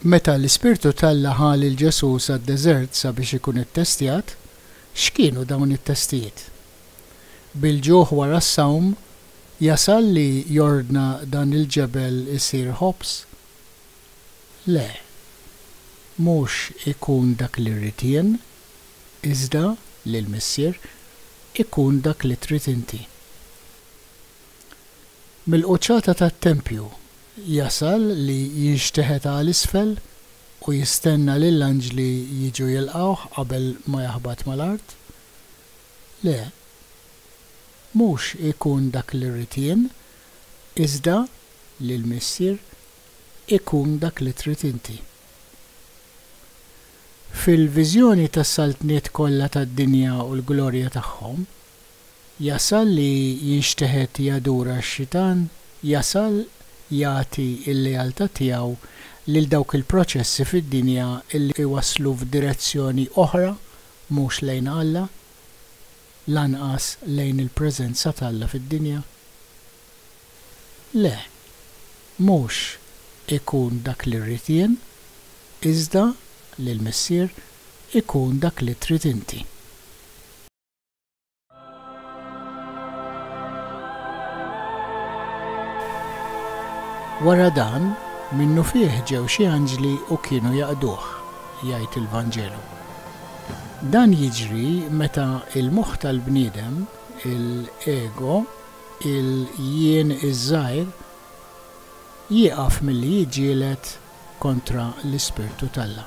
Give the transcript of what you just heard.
Meta l-Ispirtu t'Alla ħa lil Ġesù sad-deżert sabiex ikun ittestjat, x'kienu dawn it-testijiet? Bil-ġuħ wara s-sawm, jasal li jordna dan il-ġebel isir ħobż? Le, mhux ikun dak li rrid jien, iżda li l-Missier ikun dak li trid inti. Mill-quċċata tat-tempju jasal li jinxteħet għal isfel u jistenna lill-anġli jiġu jilqgħuh qabel ma jaħbat mal-art? Le, mhux ikun dak li rrid jien, iżda li l-Missier ikun dak li trid inti. Fil-viżjoni tas-saltniet kollha tad-dinja u l-glorja tagħhom, jasal li jinxteħet jadura x-xitan, jasal jagħti l-lealtà tiegħu lil dawk il-proċessi fid-dinja li jwasslu f'direzzjoni oħra mhux lejn Alla, lanqas lejn il-preżenza t'Alla fid-dinja. Le, mhux ikun dak li rrid jien, iżda li l-Missier ikun dak li trid inti. Wara dan, minnufih ġew xi anġli u kienu jaqduh, jgħid il-Vanġelu. Dan jiġri meta l-moħħ tal-bniedem, il-ego, il-jien iż-żgħir jieqaf milli jiġġieled kontra l-Ispirtu t'Alla.